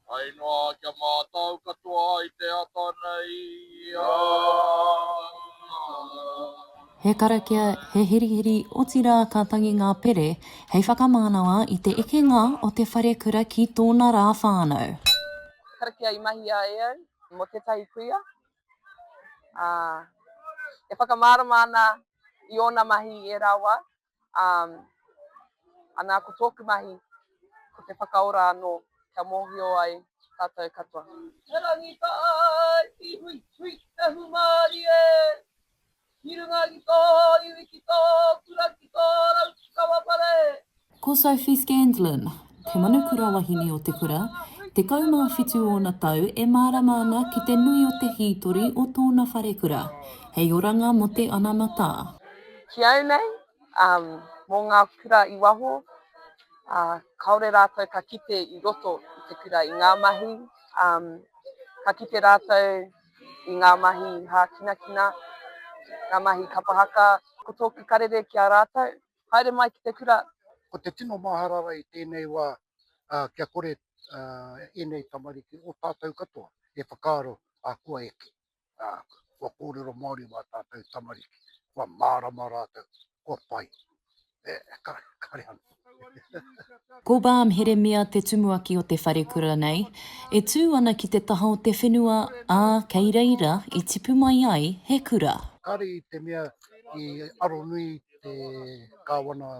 Pai noa kia mātau katoa ai te ata nei, ā. He karakia, he hirihiri, otirā ka tangi ngā pere hei whakamānawa i te ekenga o te wharekura ki tōna rā whānau. Karakia i mahia e au mō tētahi kuia, ā, e whakamārama ana i ōna mahi i ērā wā, Um, ana ko tōku mahi, ko te whakaora anō kia mōhio ai tātou katoa. He rangi ka āki hui, hui, he humāri e! Ki runga ki tō iwi, ki tō kura, ki tō rau, ki taua whare! Ko Sophie Scanlon, te manukura wahine o te kura, tekau mā whitu ōna tau e mārama ana ki te nui o te hītori o tōna wharekura. Hei oranga mō te anamata. Ki au nei, mō ngā kura i waho, kāore rātou ka kite i roto i te kura i ngā mahi, ka kite rātou i ngā mahi hākinakina, ngā mahi kapa haka. Ko tōku karere ki a rātou, haere mai ki te kura. Ko te tino maharara i tēnei wā, kia kore ēnei tamariki o tātou katoa e whakaaro, ā, kua eke. ā, kua kōrero Māori mā tātou tamariki, kua mārama rātou, kua pai. E, ka, kare anō. Ko Balm Heremia te tumuaki o te wharekura nei, e tū ana ki te taha o te whenua, ā, kei reira i tipu mai ai he kura. Kāre i te mea i aronui te Kāwana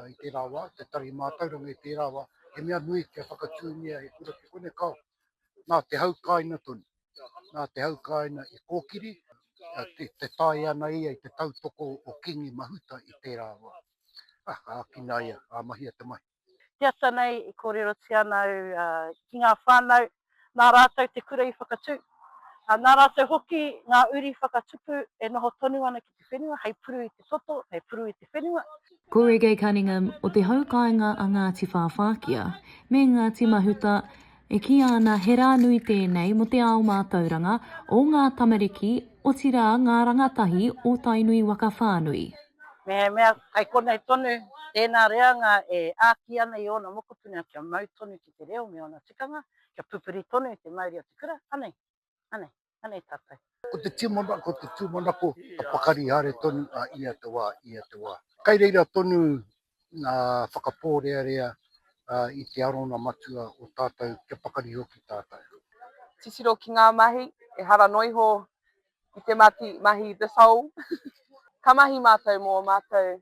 i tērā wā, te Tari Mātauranga i tērā wā, he mea nui kia whakatūngia he kura ki konei, kāo, nā te hau kāina tonu. nā te haukāina i kōkiri, e taea ana ia i te tautoko o Kīngi Mahuta i tērā wā. Ā, ka ākinaia, ā mahia te mahi. Te ata nei i kōrerotia ana au ki ngā whānau, nā rātou te kura i whakatū, ā, nā rātou hoki ngā uri whakatupu e noho tonu ana ki. te whenua, hei puru i te toto, hei puru i te whenua. Ko Reggae Cunningham o te hau kāinga a Ngāti Whāwhākia me Ngāti Mahuta, e kīia ana he rā nui tēnei mō te ao mātauranga o ngā tamariki, otirā ngā rangatahi o Tainui waka whānui. Mehemea kei konei tonu tēnā reanga e āki ana i ōna mokopuna kia mau tonu ki te reo me ōna tikanga, kia pupuri tonu i te mauri o te kura, anei. Anei, anei tatou. Ko te tumana, ko te tumanako ka pakari haere tonu a ia te wa, ia te wa. Kai reira tonu nga whakaporearea i te arona matua o tatou kia pakari hoki tatou. Titiro ki nga mahi, ehara no iho ki te mati, mahi the soul. Ka mahi matou mo matou